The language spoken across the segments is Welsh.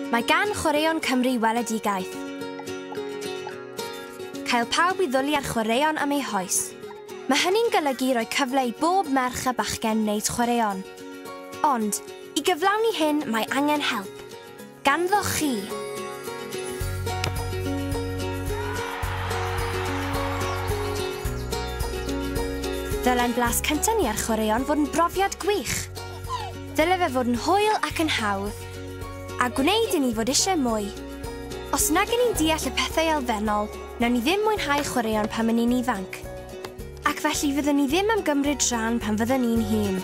Mae gan Chwaraeon Cymru weledigaeth. Cael pawb i ddwlu ar chwaraeon am eu hoes. Mae hynny'n golygu rhoi cyfle i bob merch a bachgen wneud chwaraeon. Ond, i gyflawni hyn mae angen help. Ganddoch chi! Ddylen blas cyntaf ni ar chwaraeon fod yn brofiad gwych. Dyle fe fod yn hwyl ac yn hawdd, a gwneud i ni fod eisiau mwy. Os nag y'n ni'n deall y pethau elfennol, nawn ni ddim mwynhau chwaraeon pan y'n ni'n ifanc. Ac felly fyddwn ni ddim am gymryd rhan pan fyddwn ni'n hŷn.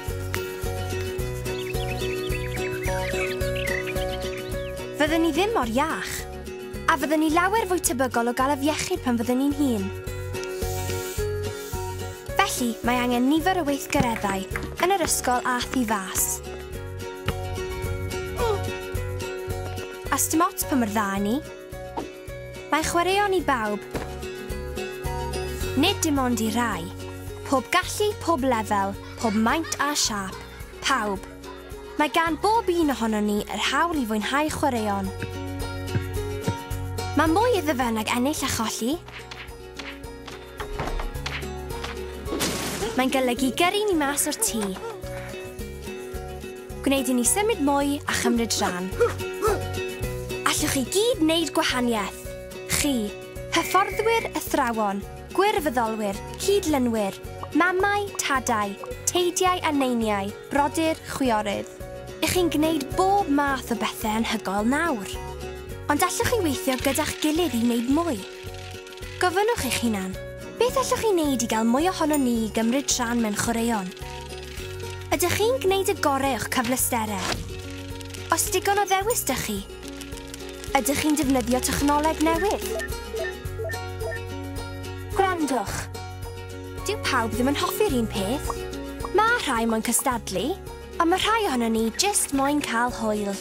Fyddwn ni ddim mor iach. A fyddwn ni lawer fwy tebygol o gael afiechyd pan fyddwn ni'n hŷn. Felly, mae angen nifer o weithgareddau yn yr ysgol a thu fas. A sdim ots pa mor dda 'yn ni. Mae chwaraeon i bawb. Nid dim ond i rai. Pob gallu, pob lefel, pob maint a siâp. Pawb. Mae gan bob un ohonon ni yr hawl i fwynhau chwaraeon. Mae mwy iddo fe nag ennill a cholli. Mae'n golygu gyrru ni mas o'r tŷ. Gwneud i ni symud mwy a chymryd rhan. Allwch chi gyd wneud gwahaniaeth. Chi, hyfforddwyr, athrawon, gwirfoddolwyr, cyd-lynwyr, mamau, tadau, teidiau a neiniau, brodyr, chwiorydd. Ych chi'n gwneud bob math o bethau anhygoel nawr. Ond allwch chi weithio gyda'ch gilydd i wneud mwy? Gofynnwch eich hunan, Beth allwch chi wneud i gael mwy ohonon ni i gymryd rhan mewn chwaraeon? Ydych chi'n gwneud y gorau o'ch cyfleusterau? Oes digon o ddewis 'da chi? Ydych chi'n defnyddio technoleg newydd? Gwrandwch. Dyw pawb ddim yn hoffi'r un peth. Mae rhai moyn cystadlu. Ond mae rhai ohonon ni jyst moyn cael hwyl.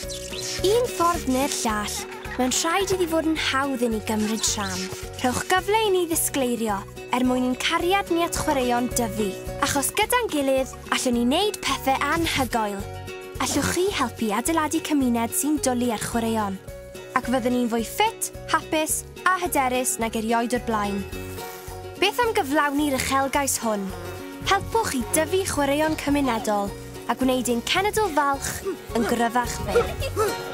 Un ffordd neu'r llall, mae'n rhaid iddi fod yn hawdd i ni gymryd rhan. Rhowch gyfle i ni ddisgleirio er mwyn i'n cariad ni at chwaraeon dyfu, achos gyda'n gilydd, allwn ni wneud pethau anhygoel! Allwch chi helpu adeiladu cymuned sy'n dwlu ar chwaraeon? Ac fyddwn ni'n fwy ffit, hapus, a hyderus nag erioed o'r blaen. Beth am gyflawni'r uchelgais hwn? Helpwch i dyfu chwaraeon cymunedol a gwneud ein cenedl falch yn gryfach byth.